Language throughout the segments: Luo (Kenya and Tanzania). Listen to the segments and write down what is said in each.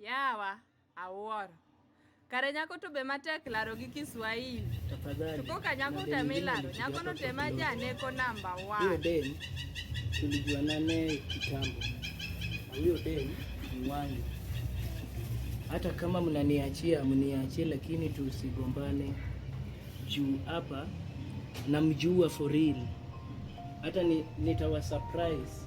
Yawa awuoro. Kare nyako to be matek laro gi Kiswahili. Tafadhali. Tuko ka nyako temi laro. Nyako no tema ja neko number Huyo 1. dem tulijuana naye kitambo, na huyo dem ni wangu. Hata kama mnaniachia mniachie, lakini tusigombane juu hapa namjua for real. Hata ni, nitawa surprise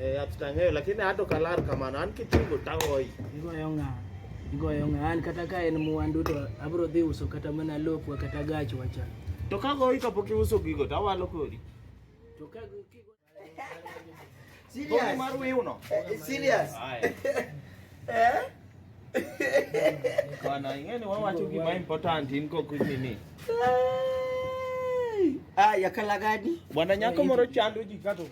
Eh, atutang'eyo lakini ato kalar kamano an kitungu tahoyi. Igoyo ng'a. Igoyo ng'a. An kata ka en mwandu to abro dhi uso kata mana lopwa kata gach wacha. To ka goyi kapok iuso gigo to awalo kodi. To ka kigo Serious. Mar wiuno. Eh, serious. Eh? Bana, ingeni wawacho gima important in kok nini. Ah, ya kala gadi. Bwana nyako moro chando ji kato.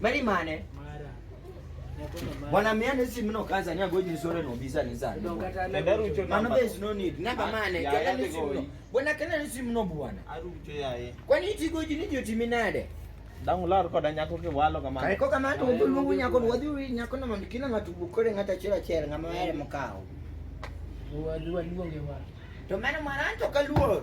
Mari mane? Mara. Bwana miane si mno kaza ni agoji ni sore no bisa ni sana. Mano be is no need. Namba mane? Kala ni si mno. Bwana kala ni si mno bwana. Arucho yaye. Kwani iti goji ni joti minade? Dangu lar koda nyako ki walo kama. Kai ko kama to dulu ngu nyako wadi wi nyako na mamikina matubu kore ngata chira chera ngama yale mkao. Wadi wadi wangewa. To mano maranto kaluoro.